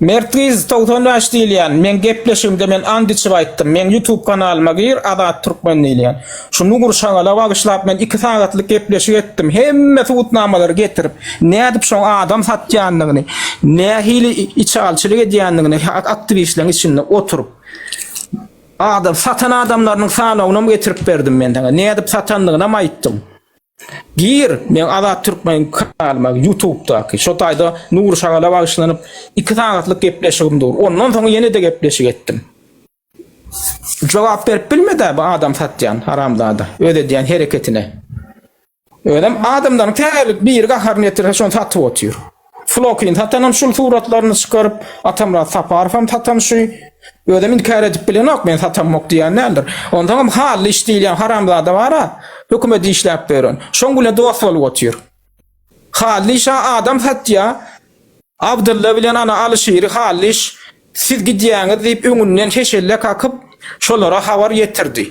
Mert gyz togsan bäş diýilýän meň gepleşigimde men and içip aýtdym meň ýutub kanalyma gir Azat Türkmen diýilýän şu nugur şagala bagyşlap men iki sagatlyk gepleşik etdim hemme subutnamalary getirip nädip şoň adam satýandygyny nähili içalçylyk edýändigini aktiwistleriň içinde oturyp adam satan adamlarynyň sanawynam getirip berdim men saňa nädip satandygynam aýtdym. Gir, meň Azat Türkmen kanalyma Ýutubdaky. Şo taýda Nury Şagala bagyşlanyp, iki sagatlyk gepleşigim dur. Ondan soň ýene-de gepleşik etdim. Jogap berip bilmedi-ä bu adam satýan haramzada öz edýän hereketine. Özem adamlaryň tä gelip biri gaharyny ýetirse şony satyp otyr. Flokin satanam şul suratlaryny çykaryp, Atamyrat Saparowam satan şü. Özem inkär edip bilenok, men satanmok diýen däldir. Onsoňam hally iş diýilýän haramzada bar-a, hökümete işläp ýören. Şoň bile dost bolup otyr. Hally işa adam satýa. Abdylla bilen ana Alyşiri hally iş siz gidýäňiz diýip öňünden heşelle kakyp, şolara habar ýetirdi.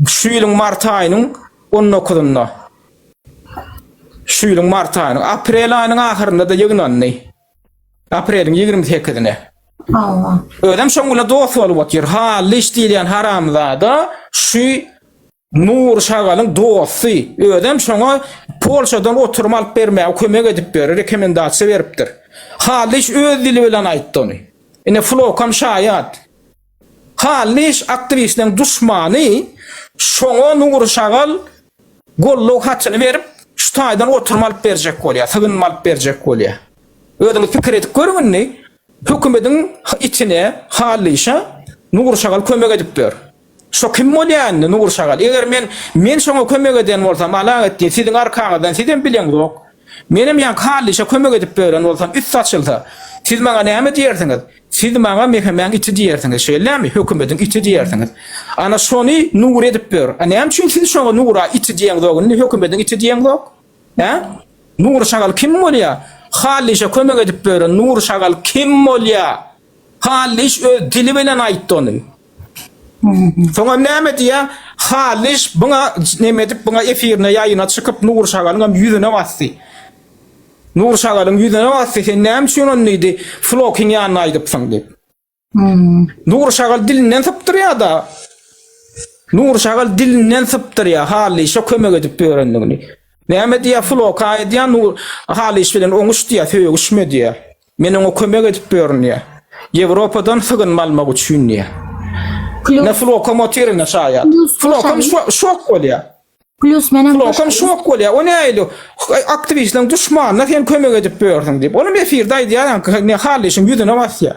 Şu ýylyň mart aýynyň on dokuzynda. Şu ýylyň mart aýynyň, aprel aýynyň ahyrynda-da ýygnandy. Apreliň ýigrimi sekizine. Hawa. Özem şoň bilen dost bolup otyr. Halliş diýilýän haramzada şu Nur şagalyň dosty. Özem şoňa Polşadan oturum alyp bermäge kömek edipdir, rekomendasiýa beripdir. Halliş öz dili bilen aýtdy ony. Ine, Flokam şaýat. Hallyş aktiwistiniň duşmany şoňa Nury şagal goldaw hatyny berip, şu taýdan oturum alyp berjek bolýar, sygynma alyp berjek bolýar. Özüňiz pikir edip görüň indi, hökümediň itine, Hallyşa Nury şagal kömek edip ýör. Şo kim bolýar indi Nury şagal? Eger men, men şoňa kömek eden bolsam, Alaeddin, siziň arkaňyzdan, sizem bileňzok. Menem ýaňky Hallyşa kömek edip bören bolsam, üst açylsa, siz maňa näme diýersiňiz? Siz maňa Mehemäň iti diýersiňiz, şeýlemi? Hökümediň iti diýersiňiz. Ana, şony Nur edip ber. A näme üçin siz şoňa Nura iti diýeňzok, indi Hökümediň iti diýeňzok? Hä? Nur şagal kim bolýar? Hallyşa kömek edip beren Nur şagal kim bolýar? Hallyş öz dili bilen aýtdy ony. Soňam näme diýýär? Hallyş buňa neme edip, buňa efirine, ýaýyna çykyp, Nur şagalyňam ýüzüne basdy. Nur şagalyň ýüzüne basdy, Sen näme üçin ony diýdi, Flokyň ýanyna aýdypsyň diýip. Nur şagal dilinden sypdyrýa-da. Nur şagal dilinden sypdyrýa, Halyşa kömek edip ýörendigini. Näme diýýä, Floka aýdýa, Nur Halyş bilen oňuş diýýä, sögüşme diýýä. Men oňa kömek edip ýörün diýýä. Ýewropadan sygynma almak üçin diýýä. Ine Flokam otyr indi şaýat. Flokam şok bolýa. Plus meniň Klokan şok bolýar. O näýdi? Aktiwistleriň duşmanyna sen kömek edip ýörsüň diýip. Olam efirde aýdýar ýaňky ne hal işiň ýüzüne basýar.